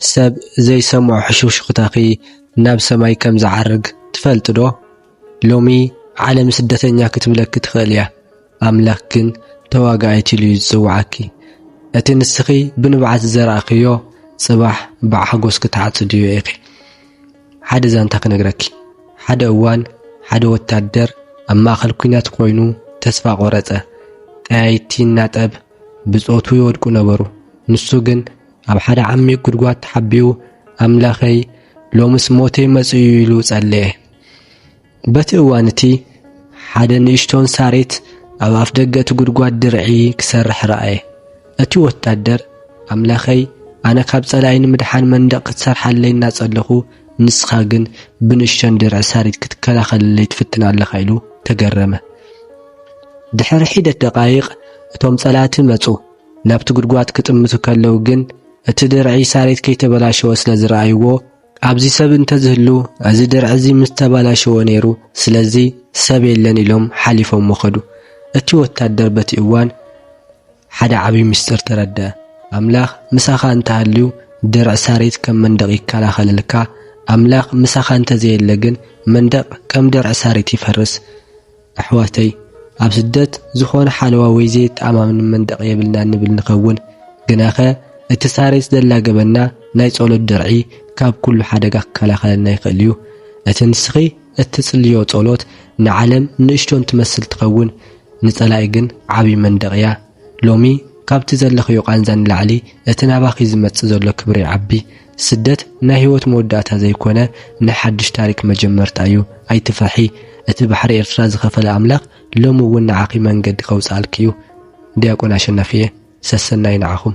ሰብ ዘይሰምዖ ሕሹኽሹኽታኺ ናብ ሰማይ ከም ዝዓርግ ትፈልጥ ዶ? ሎሚ ዓለም ስደተኛ ክትብለኪ ትኽእል እያ፣ ኣምላኽ ግን ተዋጋኣይቲ ኢሉ እዩ ዝጽውዓኪ። እቲ ንስኺ ብንብዓት ዝዘራእክዮ ጽባሕ ብሓጎስ ክትዓጽድዮ ኢኺ። ሓደ ዛንታ ክነግረኪ፣ ሓደ እዋን ሓደ ወታደር ኣብ ማእከል ኲናት ኮይኑ ተስፋ ቆረጸ። ጠያይቲ እናጠብ ብጾቱ ይወድቁ ነበሩ፣ ንሱ ግን ኣብ ሓደ ዓሚቕ ጉድጓድ ተሓቢኡ ኣምላኸይ ሎምስ ሞተይ መጽኡ ኢሉ ጸለየ። በቲ እዋን እቲ ሓደ ንእሽቶን ሳሬት ኣብ ኣፍ ደገ እቲ ጉድጓድ ድርዒ ክሰርሕ ረኣየ። እቲ ወታደር ኣምላኸይ ኣነ ካብ ጸላኢ ንምድሓን መንደቕ ክትሰርሓለይ እናጸለኹ ንስኻ ግን ብንእሽቶን ድርዒ ሳሬት ክትከላኸለለይ ትፍትን ኣለኻ ኢሉ ተገረመ። ድሕሪ ሒደት ደቃይቕ እቶም ጸላእቲ መጹ። ናብቲ ጉድጓድ ክጥምቱ ከለዉ ግን እቲ ድርዒ ሳሬት ከይተበላሸወ ስለ ዝረኣይዎ ኣብዚ ሰብ እንተዝህሉ እዚ ድርዒ እዚ ምስ ተበላሸወ ነይሩ፣ ስለዚ ሰብ የለን ኢሎም ሓሊፎሞ ከዱ። እቲ ወታደር በቲ እዋን ሓደ ዓብዪ ምስጢር ተረድአ። ኣምላኽ ምሳኻ እንተሃልዩ ድርዒ ሳሬት ከም መንደቕ ይከላኸለልካ፣ ኣምላኽ ምሳኻ እንተዘየለ ግን መንደቕ ከም ድርዒ ሳሬት ይፈርስ። ኣሕዋተይ ኣብ ስደት ዝኾነ ሓለዋ ወይ ዘየተኣማምን መንደቕ የብልናን ንብል ንኸውን፣ ግናኸ እቲ ሳሬት ዘላገበና ናይ ጸሎት ድርዒ ካብ ኩሉ ሓደጋ ክከላኸለና ይኽእል እዩ። እቲ ንስኺ እትጽልዮ ጸሎት ንዓለም ንእሽቶን ትመስል ትኸውን፣ ንጸላኢ ግን ዓቢ መንደቕ እያ። ሎሚ ካብቲ ዘለኽዮ ቃንዛ ንላዕሊ እቲ ናባኺ ዝመጽእ ዘሎ ክብሪ ይዓቢ። ስደት ናይ ህይወት መወዳእታ ዘይኮነ ናይ ሓድሽ ታሪክ መጀመርታ እዩ። ኣይትፍርሒ እቲ ባሕሪ ኤርትራ ዝኸፈለ ኣምላኽ ሎሚ እውን ንዓኺ መንገዲ ከውጽኣልኪ እዩ። ዲያቆን ኣሸናፍየ ሰሰናዩ ንዓኹም።